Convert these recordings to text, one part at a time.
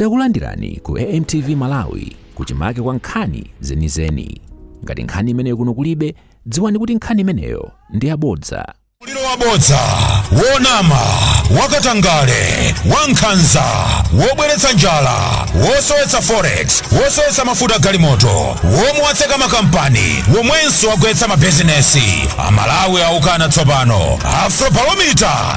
Takulandirani ku AMTV Malawi kuchimake kwa nkhani zenizeni. Ngati nkhani imeneyo kuno kulibe, dziwani kuti nkhani imeneyo ndi yabodza. Ulamuliro wabodza, wonama, wakatangale, wankhanza, wobweretsa njala, wosowetsa forex, wosowetsa mafuta galimoto, womwe watseka makampani, womwenso wagwetsa mabizinesi. Amalawi aukana tsopano. Afrobarometer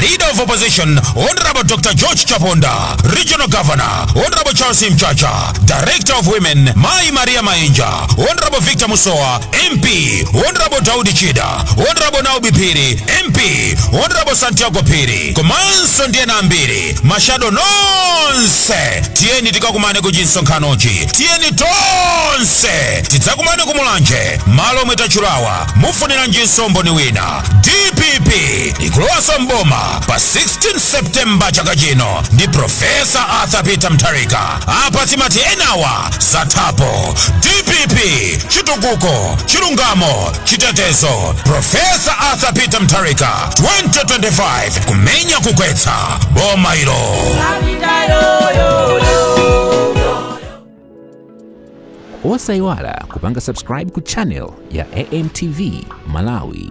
Leader of Opposition, Honorable Dr. George Chaponda, Regional Governor, Honorable Charles Mchacha, Director of Women, Mai Maria Mainja, Honorable Victor Musowa, MP, Honorable Daudi Chikwanje, Honorable Naomi Phiri, MP, Honorable Santiago Phiri, komanso ndi ena ambiri, mashado nonse, tiyeni tikakumane ku chimsonkhanochi, tiyeni tonse, tidzakumane ku Mulanje, malo omwe tatchulawa, mufuniranjinso mboni wina, DPP, ikulowanso mboma pa 16 septemba chaka chino ndi profesa arthur peter mutharika apa timati enawa zathapo dpp chitukuko chilungamo chitetezo profesa arthur peter mutharika 2025 kumenya kugwetsa boma ilo osayiwala kupanga subscribe ku channel ya amtv malawi